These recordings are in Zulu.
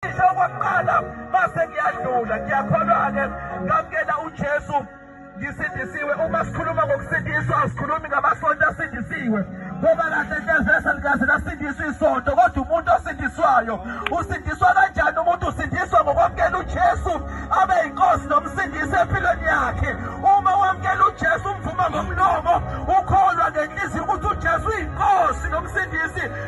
Isho okokuqala base ngiyadlula ngiyakholwa-ke ngamkela uJesu ngisindisiwe uma sikhuluma ngokusindiswa asikhulumi ngamasonto asindisiwe ngoba kahle hle vese likaze lasindiswa isonto kodwa umuntu osindiswayo usindiswa kanjani umuntu usindiswa ngokwamukela ujesu abe yinkosi nomsindisi empilweni yakhe uma wamukela ujesu umvuma ngomlomo ukholwa ngenhliziyo ukuthi ujesu uyinkosi nomsindisi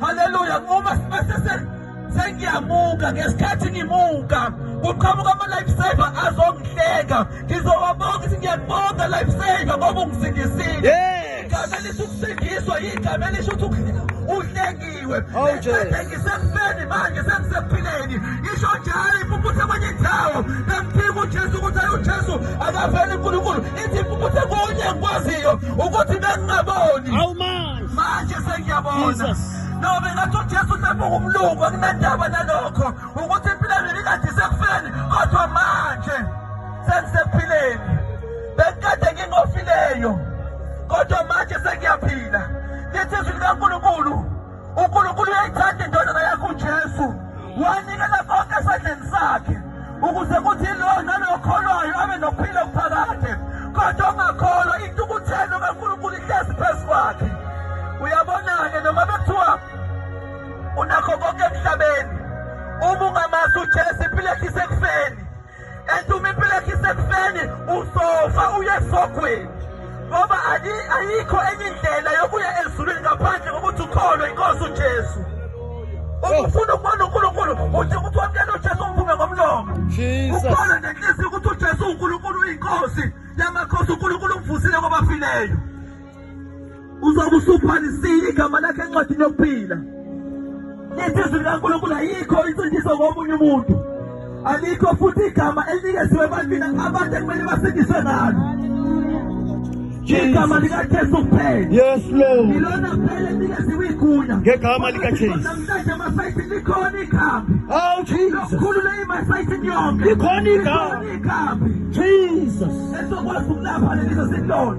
Haleluya uma sibese sengiyamuka ngesikhathi ngimuka kuqhamuka ama life saver azongihleka ngizowabonga ukuthi ngiyakubonga life saver ngoba ungisindisile igama elithi ukusindiswa igama elisho ukuthi uhlengiwe ngisethe ngisekufeni manje sengisekuphileni isho njalo impumputhe kwenye indawo namphika ujesu ukuthi ayi ujesu akaveli unkulunkulu ithi impumputhe kunye ngikwaziyo ukuthi bengingaboni manje sengiyabona nobe ngathi ujesu sebuka umlungu akunendaba nalokho ukuthi impilo yami ikade isekufeni kodwa manje sengisekuphileni bekukade ngingofileyo kodwa manje sengiyaphila lithi izwi likankulunkulu unkulunkulu uyayithanda indodana yakho ujesu wanikela konke esandleni sakhe ukuze kuthi lowo nalo okholwayo abe nokuphila okuphakade kodwa ongakholwa intukuthelo kankulunkulu ihlezi phezu kwakhe uyabona-ke noma bekuthiwa unakho konke emhlabeni uma ungamazi ujesu impilo yakhe isekufeni and uma impilo yakhe isekufeni usofa uye esogweni ngoba ayikho enye indlela yokuya ezulwini ngaphandle kokuthi ukholwe inkosi ujesu ukufuna ukubona unkulunkulu uthi ukuthi wamukela ujesu ungiphume ngomlomo ukholwe nenhliziyo ukuthi ujesu unkulunkulu uyinkosi yamakhosi unkulunkulu umvusile kwabafileyo uzobe usubhalisile igama lakhe encwadini yokuphila lithi izwi likankulunkulu ayikho insindiso komunye umuntu alikho futhi igama elinikeziwe ebantwini abantu ekumele basindiswe ngalo igama likajesu kuphela yes lord ilona kuphela elikeziwe igunya ngegama likajesu namhlanje emasayitini likhona ikhambi oh jesus khulu le imasayitini yonke likhona ikhambi jesus esokwazi ukulapha lelizo silona